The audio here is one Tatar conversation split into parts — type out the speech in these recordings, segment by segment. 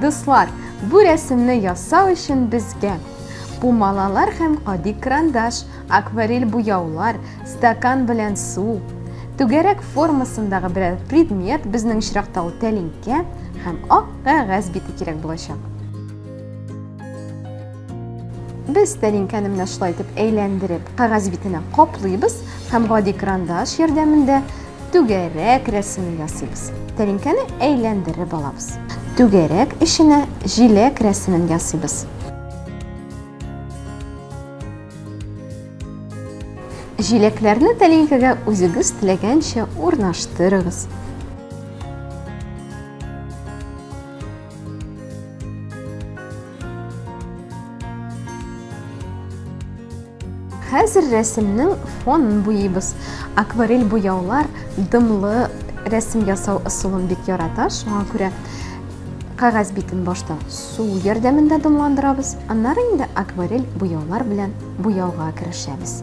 Дуслар, бу рәсемне ясау өчен безгә пумалалар һәм кади крандаш, акварель буяулар, стакан белән су, түгәрәк формасындагы берәр предмет, безнең очракта ул тәлинкә һәм ак кәгазь бите кирәк булачак. Без тәлинкәне менә шулай итеп әйләндереп, кәгазь битенә каплыйбыз һәм гади крандаш ярдәмендә түгәрәк рәсеме ясыйбыз. Тәлинкәне әйләндереп алабыз. Түгәрәк эченә җиләк рәсемен ясыйбыз. Җиләкләрне тәлинкәгә үзегез теләгәнчә урнаштырыгыз. Хәзер рәсемнең фонын буйыбыз. Акварель буяулар дымлы рәсем ясау ысулын бик ярата, шуңа күрә кәгазь битен башта су ярдәмендә дымландырабыз, аннары инде акварель буяулар белән буяуга керешәбез.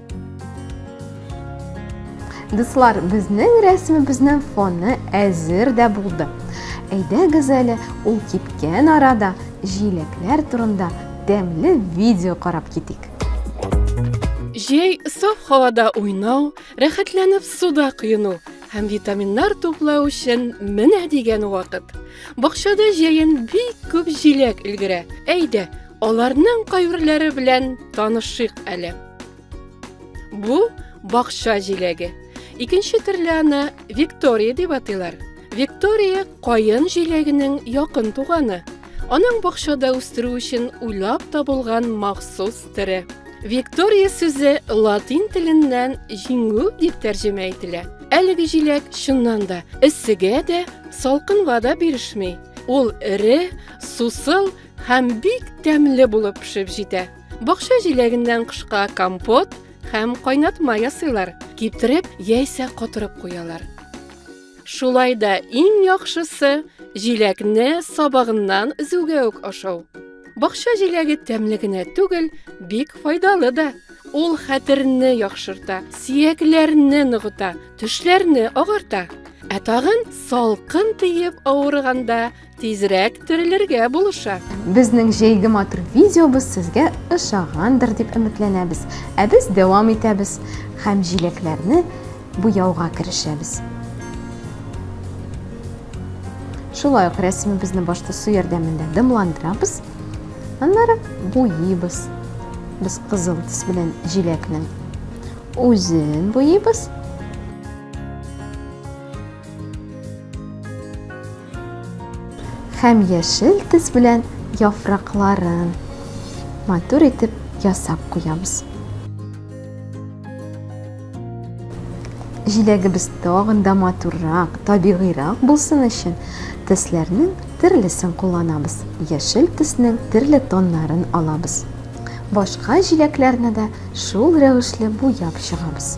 Дуслар, безнең рәсемебезнең фоны әзер дә булды. Әйдәгез әле ул кипкән арада җиләкләр турында тәмле видео карап китик. Җәй саф һавада уйнау, рәхәтләнеп суда коену һәм витаминнар туплау өчен менә дигән вакыт. Бакчада җәен бик күп җиләк өлгерә. Әйдә, Аларның кайберләре белән танышыйк әле. Бу бакча җиләге. Икенче төрле аны Виктория дип атыйлар. Виктория каен җиләгенең якын туганы. Аның бакчада үстерү өчен уйлап табылган махсус төре. Виктория сүзе латин теленнән җиңү дип тәрҗемә ителә. Әлеге җиләк чыннан да эссегә дә, салкынга да бирешми. Ул эре, сусыл һәм бик тәмле булып пешеп җитә. Бакча җиләгеннән кышка компот һәм кайнатма ясыйлар, киптереп яисә котырып куялар. Шулай да иң яхшысы җиләкне сабагыннан өзүгә үк ашау. Бакча җиләге тәмле генә түгел, бик файдалы да. Ул хәтерне яхшырта, сиякләрне ныгыта, төшләрне агарта. Ә тагын салкын тиеп авырганда Тизрәк терелергә булыша. Безнең җәйге матур видеобыз сезгә ошагандыр дип өметләнәбез. Ә без дәвам итәбез һәм җиләкләрне буяуга керешәбез. Шулай ук рәсемебезне башта су ярдәмендә дымландырабыз. Аннары буйыбыз. Без кызыл төс белән җиләкнең үзен буйыбыз. Һәм яшел төс белән яфракларын матур итеп ясап куябыз. Җиләгебез тагын да матуррак, табигыйрак булсын өчен, төсләрнең төрлесен кулланабыз. Яшел төснең төрле тоннарын алабыз. Башка җиләкләрне дә шул рәвешле буяп чыгабыз.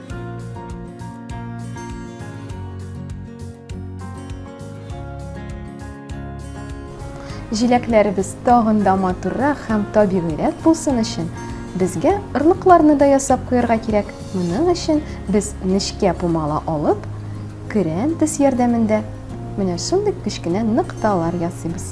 Җиләкләребез тагын да матуррак һәм табигыйрәк булсын өчен, безгә орлыкларны да ясап куярга кирәк. Моның өчен без нечкә пумала алып, көрән тез ярдәмендә менә шундый кечкенә нокталар ясыйбыз.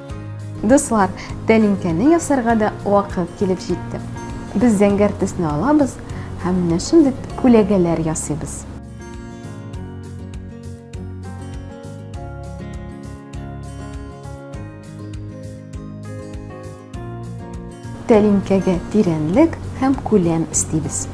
Дуслар, тәлинкәне ясарга да вакыт килеп җитте. Без зәңгәр төсне алабыз һәм менә шундый күләгәләр ясыйбыз. Тәлинкәгә тирәнлек һәм күләм истибез.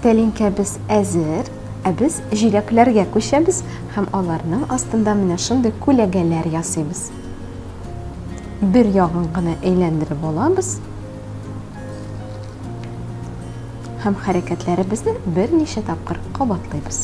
Тәлинкәбез әзер, ә без җиләкләргә күчәбез һәм аларның астында менә шундый күләгәләр ясыйбыз. Бер ягын гына әйләндереп алабыз Һәм хәрәкәтләребезне берничә тапкыр кабатлыйбыз.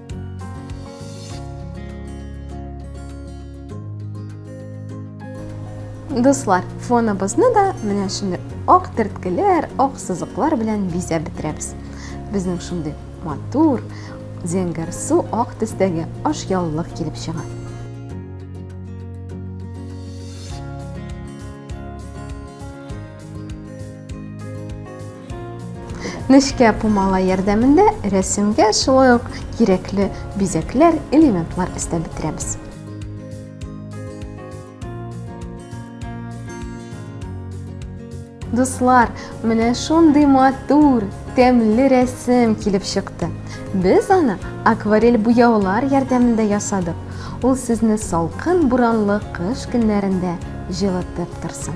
Дуслар, фоныбызны да менә шундый ак терткеләр, ак сызыклар белән бизәп бетерәбез. Безнең шундый матур, зәңгәр су ак төстәге ашъяулык килеп чыга. Нечкә пумала ярдәмендә рәсемгә шулай ук кирәкле бизәкләр, элементлар өстәп бетерәбез. Дуслар, менә шундый матур, тәмле рәсем килеп чыкты. Без аны акварель буяулар ярдәмендә ясадык. Ул сезне салкын буранлы кыш көннәрендә җылытып торсын.